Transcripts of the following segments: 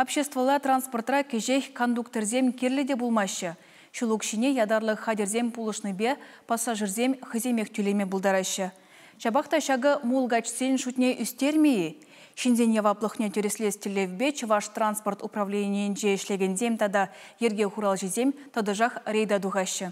Обществӑлла транспортра кӗҫех кондукторсем кирлӗ те пулмаҫҫӗ. Ҫул укҫине ятарлӑ хатӗрсем пулӑшнипе пассажирсем хӑйсемех тӳлеме пултараҫҫӗ. Ҫапах та ҫакӑ мулкачсен шутне ӳстермӗ-и? Ҫынсен яваплӑхне тӗрӗслес тӗллевпе Чӑваш транспорт управленийӗнче ӗҫлекенсем тата йӗрке хуралҫисем тӑтӑшах рейда тухаҫҫӗ.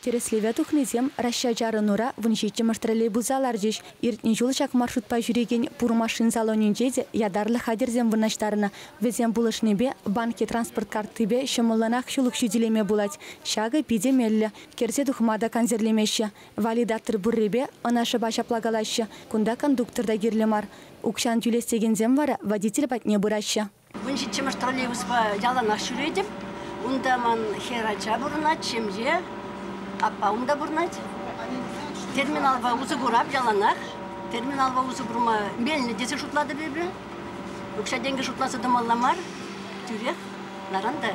Тӗрӗслеве тухнисем Раҫҫа-чарӑнура вун ҫиччӗмӗш троллейбуса ларчӗҫ. Иртнӗ ҫул ҫак маршрутпа ҫӳрекен пур машин салонӗнче те ятарлӑ хатӗрсем вырнаҫтарнӑ. Вӗсем пулӑшнипе банкӗ транспорт картипе ҫӑмӑллӑнах ҫул укҫи тӳлеме пулать. Ҫакӑ питӗ меллӗ. Кӗрсе тухма та кансӗрлемеҫҫӗ. Валидатор пуррипе ӑна шӑпа ҫапла калаҫҫӗ, кунта кондуктор та кирлӗ мар. Укҫан тӳлес текенсем вара водитель патне пыраҫҫӗ. Мӑн ҫиччӗмӗш троллейбуспа яланах ҫӳретӗп. Унта ман хӗр ача пурӑнать, ҫемье, аппа унта пурӑнать. Терминалпа усӑ курап яланах. Терминалпа усӑ курма меллӗ тесе шутлатӑп эпӗ. Укҫа-тенкӗ шутласа тӑмалла мар. Тӳрех наран та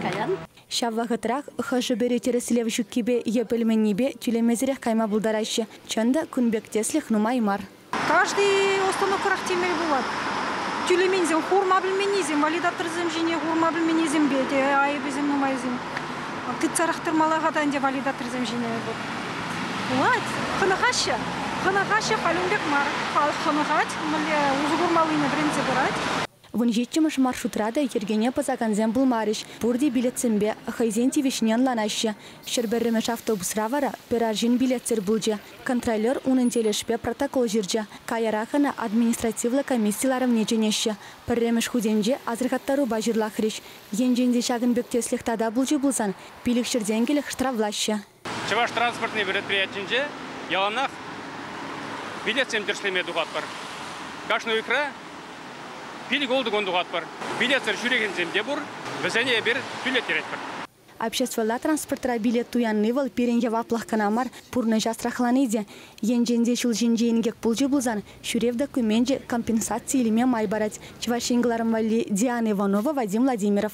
каян. Ҫав вӑхӑтрах хӑшӗ-пӗри тӗрӗслев ҫуккипе е пӗлменнипе тӳлемесӗрех кайма пултараҫҫӗ. Чӑн та, кун пек тӗслӗх нумай мар. Каждый установкӑрах темел пулать. Тӳлеменсем хурма пӗлменнисем, валидаторсем ҫине хурма пӗлменнисемпе те айӑпӗсем нумайсем. Тытсарах тӑрмалла-ха та ӗнтӗ валидаторсем ҫине вӑл. Пулать, хӑнӑхаҫҫӗ. Хӑнӑхаҫҫӗ халь ун пек мар. Халӑх хӑнӑхать, мӗнле усӑ курмаллине вӗрентсе пырать. Вун ҫиччӗмӗш маршрутра та йӗркене пӑсакансем пулмарӗҫ, пурте билетсемпе хӑйсен тивӗҫне ӑнланаҫҫӗ. Ҫӗр пӗрремӗш автобусра вара пӗр арҫын билетсӗр пулчӗ. Контролер унӑн тӗлӗшпе протокол ҫырчӗ. Каярах ӑна административлӑ комисси ларӑвне чӗнеҫҫӗ. Пӗрремӗш хутӗнче асӑрхаттарупа ҫырлахрӗҫ. Енчен те ҫакӑн пек тӗслӗх тата пулчӗ пулсан, пилӗкҫӗртен кӗлӗх штрафлаҫҫӗ. Чӑваш транспортни предприятинче яланах билетсем тӗрӗслеме тухатпӑр. Кашни уйӑхра пилӗк-ултӑ кун тухатпӑр. Билетсӗр ҫӳрекенсем те пур, вӗсене эпир тӳлеттеретпӗр. Обществӑлла транспортра билет туянни вӑл пирӗн яваплӑх кӑна мар, пурнӑҫ асрахлани те. Енчен те ҫул ҫинче инкек пулчӗ пулсан, ҫӳрев докуменчӗ компенсаци илме май парать, Чӑваш Ен кӑларӑм валли Диана Иванова, Вадим Владимиров.